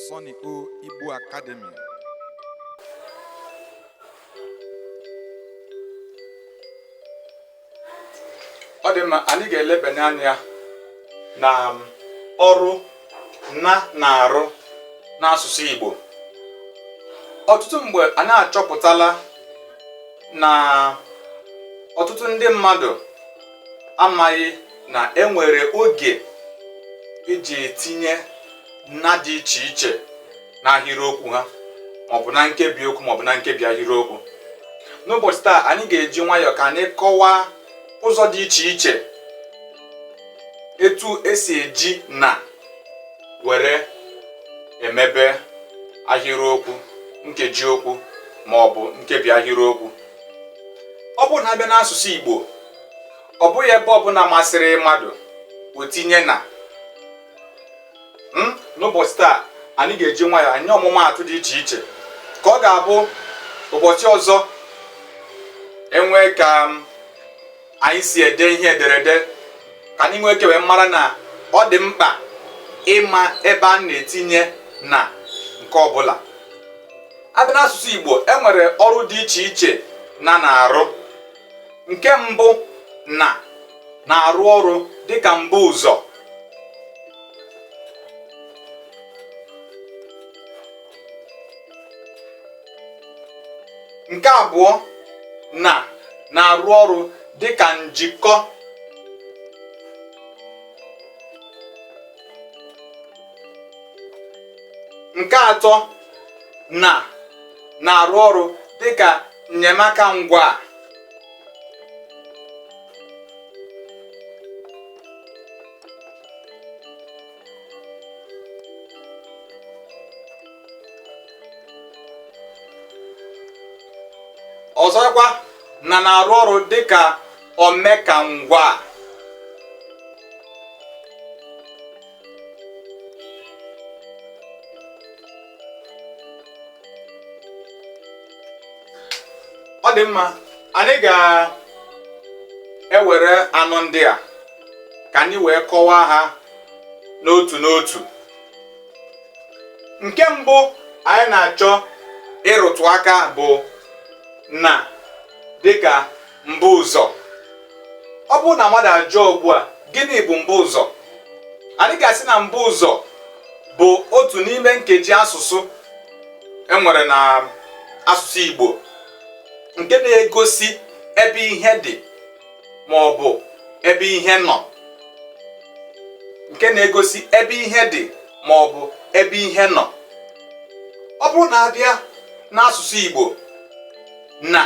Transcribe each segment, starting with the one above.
Sonny O Igbo Academy ọ dị mma anyị ga-elebanye anya na um, ọrụ na na-arụ n'asụsụ Igbo ọtụtụ mgbe anyị achọpụtala na ọtụtụ ndị mmadụ amaghị na enwere oge eji etinye na dị iche iche n'ahịrịokwu ha maọbụ na nkebi okwu maọbụ na nkebi ahịrịokwu n'ụbọchị taa anyị ga-eji nwayọọ ka anyị kọwaa ụzọ dị iche iche etu esi eji na were emebe ahịrịokwu nkeji okwu ma ọ bụ nkebi ahịrịokwu ọ bụrụ na a bịa n'asụsụ Igbo ọ bụghị ebe ọbụla masịrị mmadụ o tinye na hmm? n'ụbọchị taa anyị ga-eji nwayọ enye ọmụmaatụ dị iche iche ka ọ ga-abụ ụbọchị ọzọ enwee ka anyị si ede ihe ederede ka anyị nwee ike wee mara na ọ dị mkpa ịma ebe a na-etinye na nke ọbụla a bịa n'asụsụ Igbo e nwere ọrụ dị iche iche na na-arụ nke mbụ na na-arụ ọrụ dịka mbuụzọ nke abụọ na na-arụ ọrụ dị ka njikọ nke atọ na na-arụ ọrụ dị ka enyemaka ngwaa. ọzọkwa na na-arụ ọrụ dịka omekangwaa ọ dị mma anyị ga-ewere anọ ndị a ka anyị wee kọwaa ha n'otu n'otu nke mbụ anyị na-achọ ịrụtụ aka bụ na dịka mbuụzọ ọ bụrụ na mmadụ ajụọ ugbu a gịnị bụ mbuụzọ anyị ga-asị na mbuụzọ bụ otu n'ime nkeji asụsụ enwere na asụsụ Igbo nke na-egosi ebe ihe dị ma ọ bụ ebe ihe nọ nke na-egosi ebe ihe dị ma ọ bụ ebe ihe nọ ọ bụrụ na a bịa n'asụsụ Igbo na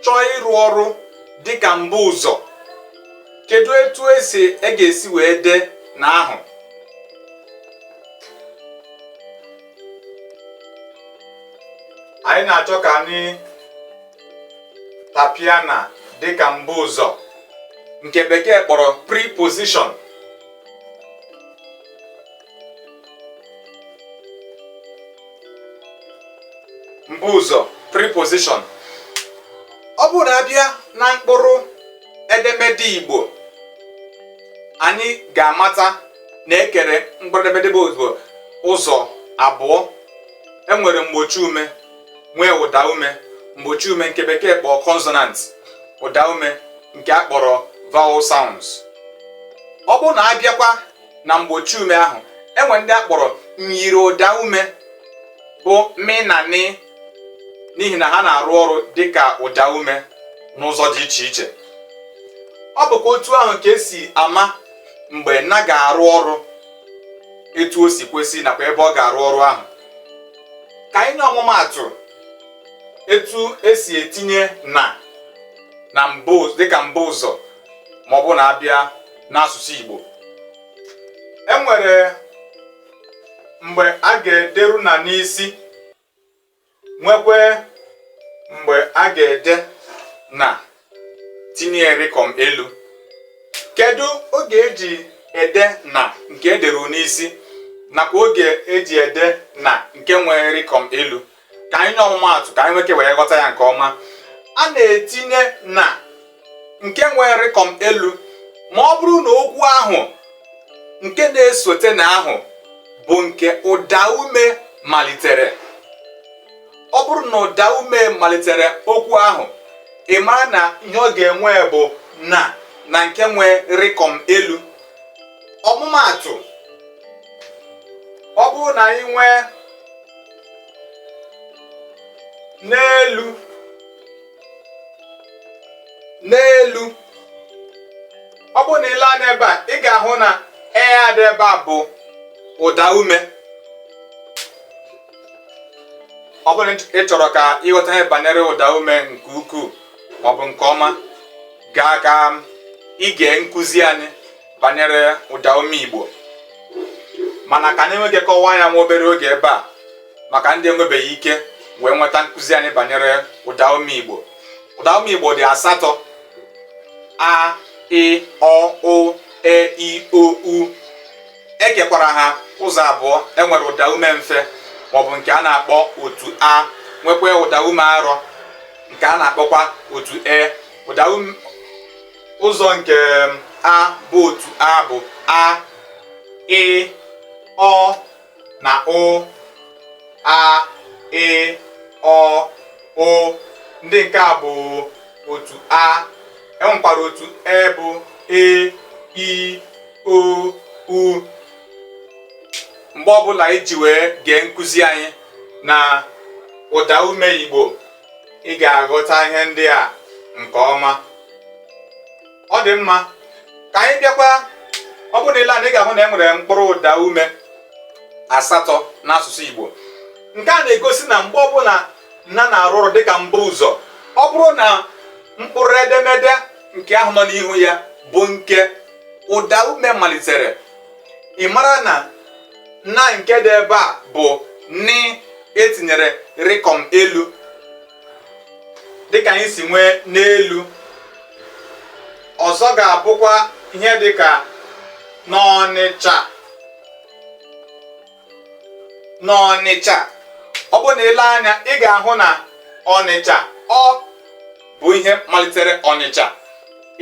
chọọ ịrụ ọrụ dịka mbuụzọ kedu etu esi e ga-esi wee dee na ahụ anyị na-achọ ka anyị tapịa na dịka mbuụzọ nke bekee kpọrọ preposition mbuụzọ preposition ọ bụrụ na a bịa na mkpụrụ edemede Igbo anyị ga-amata na e kere mkpụrụ edemede Igbo ụzọ abụọ e nwere mgbochi ume nwee ụda ume mgbochi ume nke bekee kpọọ consonant ụda ume nke a kpọrọ vowel sounds ọ bụrụ na a bịakwa na mgbochi ume ahụ e nwere ndị a kpọrọ myiri ụda ume bụ mị na nị n'ihi na ha na-arụ ọrụ dịka ụda ume n'ụzọ dị iche iche ọ bụkwa otu ahụ ka e si ama mgbe na ga-arụ ọrụ etu o si kwesị nakwa ebe ọ ga-arụ ọrụ ahụ ka anyị nye ọmụmaatụ etu e si etinye na na mbụ dịka mbuụzọ ma ọ bụ na a bịa n'asụsụ Igbo e nwere mgbe a ga-ederu na n'isi nwekwee mgbe a ga-ede na tinye rịkọm elu kedu oge e ji ede na nke e deru n'isi nakwa oge e ji ede na nke nwere rịkọm elu ka anyị nye ọmụmaatụ ka anyị nwee ike wee ghọta ya nke ọma a na-etinye na nke nwere rịkọm elu ma ọ bụrụ na okwu ahụ nke na-esote na ahụ bụ nke ụda ume malitere ọ bụrụ na ụda ume malitere okwu ahụ ị mara na ihe ọ ga-enwe bụ na na nke nwere rịkọm elu ọmụmaatụ ọ bụrụ na anyị nwee n'elu n'elu ọ bụrụ na i lee anya ebe a ị ga-ahụ na e a dị ebe a bụ ụda ume ọ bụrụ na ị chọrọ ka ịghọta ihe banyere ụda ume nke ukwuu maọbụ nke ọma gaa ka ige nkụzi anyị banyere ụda ume Igbo mana ka anyị nwee ike kọwaa ya nwa obere oge ebe a maka ndị enwebeghị ike wee nweta nkụzi anyị banyere ụda ume Igbo ụda ume Igbo dị asatọ a ị ọ ụ e i o u e kekwara ha ụzọ abụọ e nwere ụda ume mfe maọbụ nke a na-akpọ otu a nwekwa ụda ume arọ nke a na-akpọkwa otu e ụda ume ụzọ nke a bụ otu a bụ a ị ọ na ụ a ị ọ ụ ndị nke a bụ otu a enwekwara otu e bụ e i o u mgbe ọbụla iji wee gee nkụzi anyị na ụda ume igbo ị ga-aghọta ihe ndị a nke ọma ọ dị mma ka anyị bịakwa ọ bụrụ na ile anya ị ga-ahụ na e nwere mkpụrụ ụda ume asatọ n'asụsụ igbo nke a na-egosi na mgbe ọbụla na na-arụ ọrụ dịka mbuụzọ ọ bụrụ na mkpụrụ edemede nke ahụ nọ n'ihu ya bụ nke ụda ume malitere ị mara na na nke dị ebe a bụ n etinyere rịkọm elu dịka anyị si nwee n'elu ọzọ ga-abụkwa ihe dịka n'ọnịcha n'ọnịcha ọ bụrụ na ile anya ị ga-ahụ na ọnịcha ọ bụ ihe malitere ọnịcha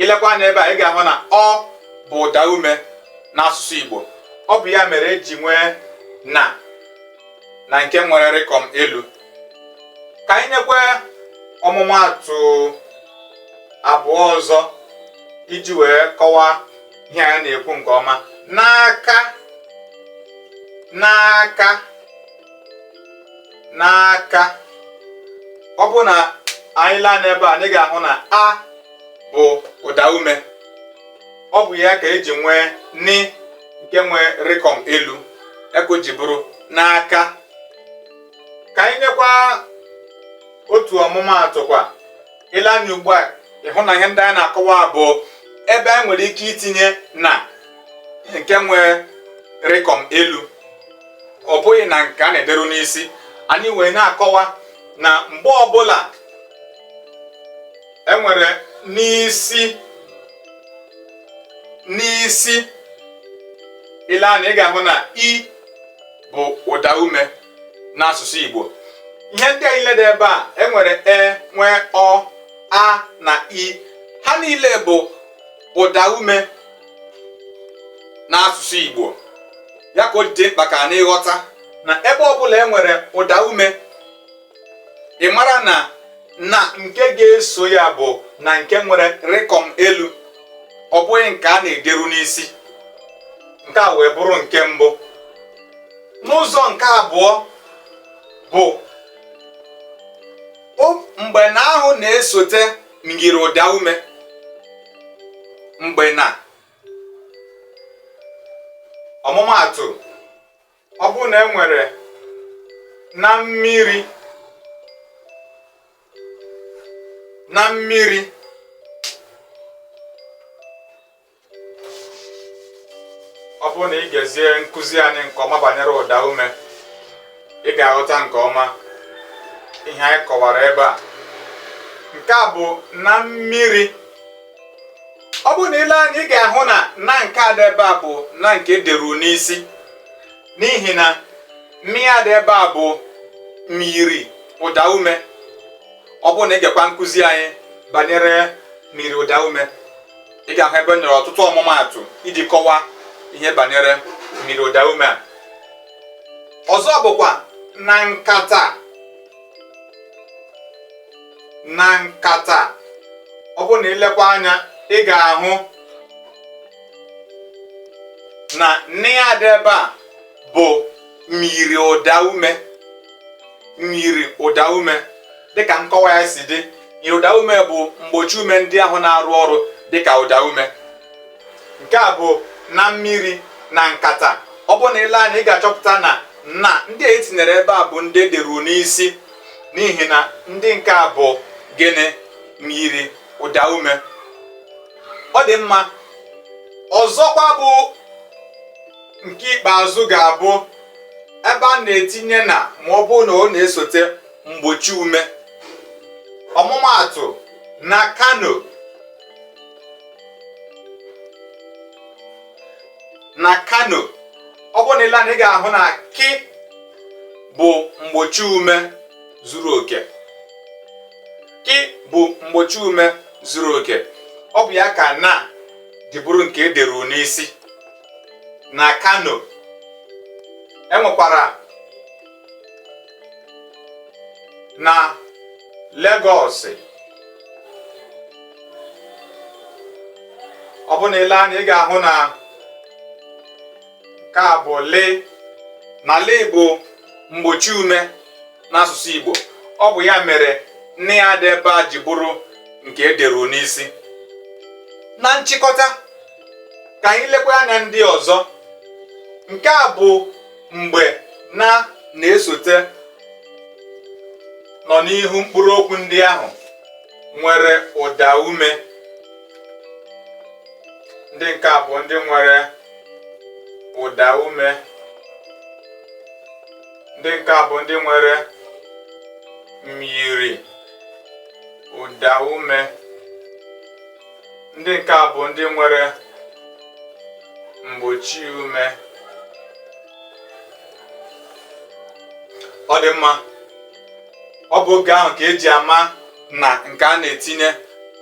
ilekwa anya ebe a ị ga-ahụ na ọ bụ ụda ume n'asụsụ Igbo ọ bụ ya mere eji nwee na na nke nwere rịkọm elu ka anyị nyekwa ọmụmaatụ abụọ ọzọ iji wee kọwaa ihe anyị na-ekwu nke ọma n'aka n'aka n'aka ọ bụrụ na anyị lee anya ebe a anyị ga-ahụ na a bụ ụda ume ọ bụ ya ka eji nwee n nke nwee rịkọm elu ya ka o ji bụrụ n'aka ka anyị nyekwa otu ọmụmaatụ kwa ile anya ugbu a ịhụ na ihe ndị anyị na-akọwa bụ ebe anyị nwere ike itinye na nke nwee rịkọm elu ọ bụghị na nke a na-ederu n'isi anyị wee na-akọwa na mgbe ọbụla enwere n'isi n'isi ile anya ị ga-ahụ na i bụ ụda ume n'asụsụ Igbo ihe ndị a niile dị ebe a enwere e nwee ọ a na i ha niile bụ ụda ume n'asụsụ Igbo ya ka o ji dị mkpa ka anyị ghọta na ebe ọbụla e nwere ụda ume ị mara na na nke ga-eso ya bụ na nke nwere rịkọm elu ọ bụghị nke a na-ederu n'isi nke a wee bụrụ nke mbụ n'ụzọ nke abụọ bụ mgbe na ahụ na-esote myiri ụda ume mgbe na ọmụmaatụ ọ bụrụ na e nwere na mmiri na mmiri ọ bụrụ na ị gezie nkụzi anyị nke ọma banyere ụda ume ị ga-aghọta nke ọma ihe anyị kọwara ebe a nke a bụ na mmiri ọ bụrụ na i lee anya ị ga-ahụ na na nke a dị ebe a bụ na nke ederu n'isi n'ihi na mị a dị ebe a bụ myiri ụda ume ọ bụrụ na ị gekwa nkụzi anyị banyere myiri ụda ume ị ga-ahụ ebe enyere ọtụtụ ọmụmaatụ iji kọwaa ihe banyere myiri ụda ume a ọzọ bụkwa na nkata na nkata ọ bụrụ na i lekwa anya ị ga-ahụ na nị a dị ebe a bụ myiri ụda ume myiri ụda ume dịka nkọwa ya si dị myiri ụda ume bụ mgbochi ume ndị ahụ na-arụ ọrụ dịka ụda ume nke a bụ na mmiri na nkata ọ bụ na i lee anya ị ga-achọpụta na na ndị a etinyere ebe a bụ ndị ederu n'isi n'ihi na ndị nke a bụ gịnị myiri ụda ume ọ dị mma ọzọkwa bụ nke ikpeazụ ga-abụ ebe a na-etinye na ma ọ bụrụ na ọ na-esote mgbochi ume ọmụmaatụ na Kano na Kano ọ bụrụ na i lee anya ị ga-ahụ na ki bụ mgbochi ume zuru oke ki bụ mgbochi ume zuru oke ọ bụ ya ka na ji bụrụ nke ederu n'isi na Kano enwekwara na Legọs ọ bụ na ile anya ị ga-ahụ na nke a bụ le na le bụ mgbochi ume n'asụsụ Igbo ọ bụ ya mere na a dị ebe a ji bụrụ nke ederu n'isi na nchịkọta ka anyị lekwa anya ndị ọzọ nke a bụ mgbe na na-esote nọ n'ihu mkpụrụ okwu ndị ahụ nwere ụda ume ndị nke a bụ ndị nwere ụda ume ndị nke a bụ ndị nwere myiri ụda ume ndị nke a bụ ndị nwere mgbochi ume ọ dị mma ọ bụ oge ahụ ka eji ama na nke a na-etinye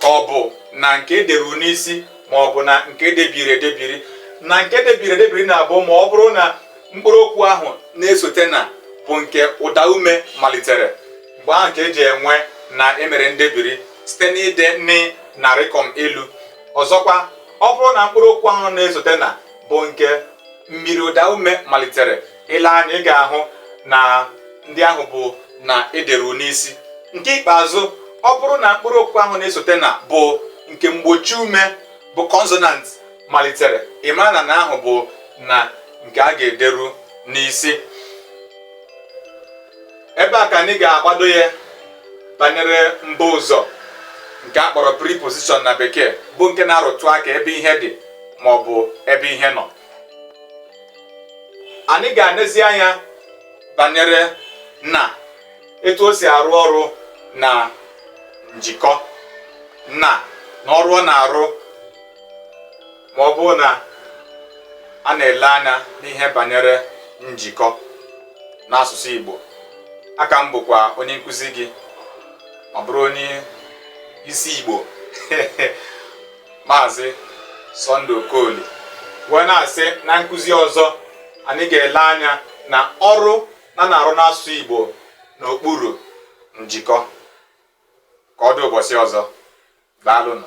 ka ọ bụ na nke ederu n'isi ma ọ bụ na nke edebiri edebiri na nke edebiri edebiri na-abụ ma ọ bụrụ na mkpụrụ okwu ahụ na-esote na bụ nke ụda ume malitere mgbe ahụ ka eji enwe na emere ndebiri site n'ide nị na rịkọm elu ọzọkwa ọ bụrụ na mkpụrụ okwu ahụ na-esote na bụ nke myiri ụda ume malitere ile anya ị ga-ahụ na ndị ahụ bụ na ederu n'isi nke ikpeazụ ọ bụrụ na mkpụrụ okwu ahụ na-esote na bụ nke mgbochi ume bụ kọnsonant malitere ị mara na na ahụ bụ na nke a ga-ederu n'isi ebe a ka anyị ga-agbado ya banyere mbu ụzọ nke a kpọrọ preposition na bekee bụ nke na-arụtụ aka ebe ihe dị ma ọ bụ ebe ihe nọ anyị ga-anezi anya banyere na etu o si arụ ọrụ na njikọ na na ọrụ ọ na-arụ ma ọ bụ na a na-ele anya n'ihe banyere njikọ n'asụsụ Igbo a ka m bụkwa onye nkụzi gị ọ bụrụ onye isi Igbo maazị Sunday Okoli wee na-asị na nkụzi ọzọ anyị ga-ele anya na ọrụ na na-arụ n'asụsụ Igbo n'okpuru njikọ ka ọ dị ụbọchị ọzọ daalụnụ